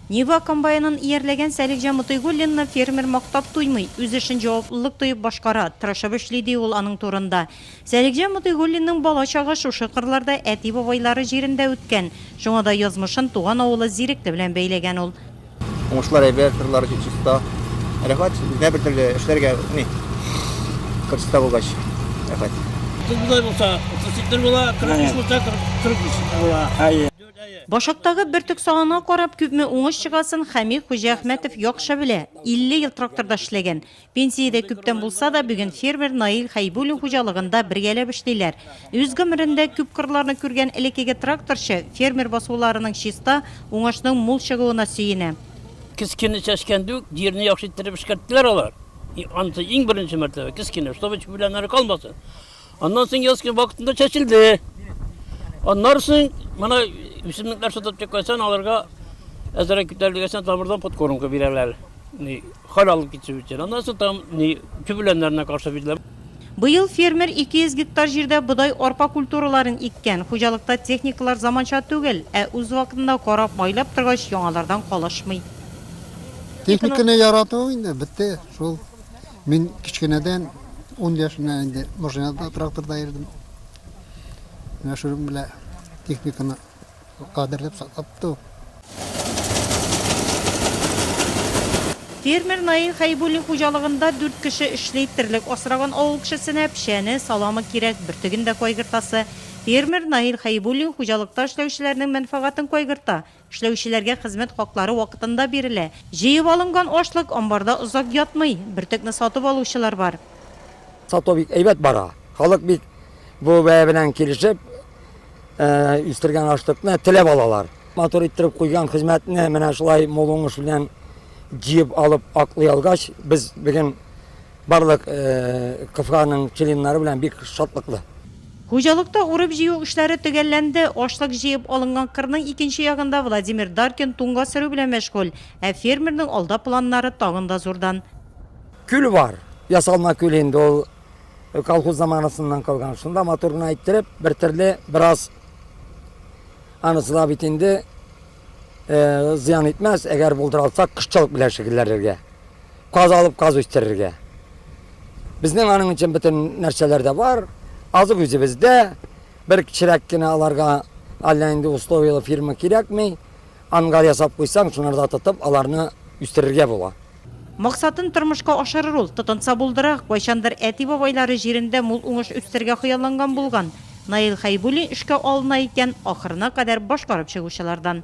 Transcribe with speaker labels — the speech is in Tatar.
Speaker 1: Нива комбайнын иярләгән Сәлихҗан Мотыйгуллинны фермер мактап туймый, үз эшен җаваплылык тоеп башкара, тырышып эшли, ди ул аның турында. Сәлихҗан Мотыйгуллинның бала чагы шушы кырларда, әти-бабайлары җирендә үткән. Шуңа да язмышын туган авылы Зирекле белән бәйләгән ул. Уңышлар әйбәт,
Speaker 2: кырлар чиста. Рәхәт, үзенә бертөрле, эшләргә ни, кыр чиста булгач, рәхәт. Кыр болай
Speaker 3: булса, 38 тә була, 45 булса, 43 тә була. Башактагы
Speaker 1: бөртек санына карап, күпме уңыш чыгасын Хәми Хуҗиәхмәтов яхшы белә. 50 ел тракторда эшләгән. Пенсиядә күптән булса да, бүген фермер Наил Хәйбуллин хуҗалыгында бергәләп эшлиләр. Үз гомерендә күп кырларны күргән элеккеге тракторчы фермер басуларының чиста, уңышның мул чыгуына сөенә. Кескене
Speaker 3: чәчкәндә үк җирне яхшы иттереп эшкәрттеләр алар. Анысы иң беренче мәртәбә, кескене, чтобы чүп белән әле калмасын. Аннан соң яз көне вакытында чәчелде. Аннан соң моны үсемлекләр сатып чыкканнан аларга әзерәк көтәлдегәсен тамырдан подкормка бирәләр. Ни хәл алып китү өчен. Аннан соң там ни төбеләннәренә каршы бирелә. Быел фермер
Speaker 1: 200 гектар җирдә бодай, арпа культураларын иккән. Хуҗалыкта техникалар заманча түгел, ә үз вакытында карап, майлап торгач, яңалардан калышмый.
Speaker 4: Техниканы ярату инде бетте шул. Мин кечкенәдән, ун яшеннән инде машинада, тракторда йөрдем. Менә шуның белән техниканы кадерләп саклап ту.
Speaker 1: Фермер Наил Хәйбуллин хуҗалыгында дүрт кеше эшли. Терлек асраган авыл кешесенә печәне, саламы кирәк, бөртеген дә кайгыртасы. Фермер Наил Хәйбуллин хуҗалыкта эшләүчеләрнең мәнфәгатен кайгырта. Эшләүчеләргә хезмәт хаклары вакытында бирелә. Җыеп алынган ашлык амбарда озак ятмый, бөртекне сатып алучылар бар. Сату бик
Speaker 5: әйбәт бара. Халык бик бу бәя белән килешеп, үстергән ашлыкны теләп алалар. Матур иттереп куйган хезмәтне менә шулай мул уңыш белән җыеп алып аклый алгач, без бүген барлык КФАның членнары белән бик шатлыклы. Хуҗалыкта
Speaker 1: урып-җыю эшләре төгәлләнде, ашлык җыеп алынган кырның икенче ягында Владимир Даркин туңга сөрү белән мәшгуль, ә фермерның алда планнары тагын да зурдан. Күл бар,
Speaker 5: ясалма күл инде ул, колхоз заманасыннан калган, шунда матур гына иттереп, бертөрле бераз анысы да бит инде, зыян итмәс, әгәр булдыра алсак, кошчылык белән шөгыльләнергә. Каз алып, каз үстерергә. Безнең аның өчен бөтен нәрсәләр дә бар. Азык үзебездә. Бер кечерәк кенә аларга әллә инде условияле фирма кирәкми. Ангар ясап куйсаң, шунарда тотып, аларны үстерергә була. Максатын
Speaker 1: тормышка ашырыр ул, тотынса булдыра. Кайчандыр әти-бабайлары җирендә мул уңыш үстерергә хыялланган булган. Наил Хәйбуллин эшкә алына икән, ахырына кадәр башкарып чыгучылардан.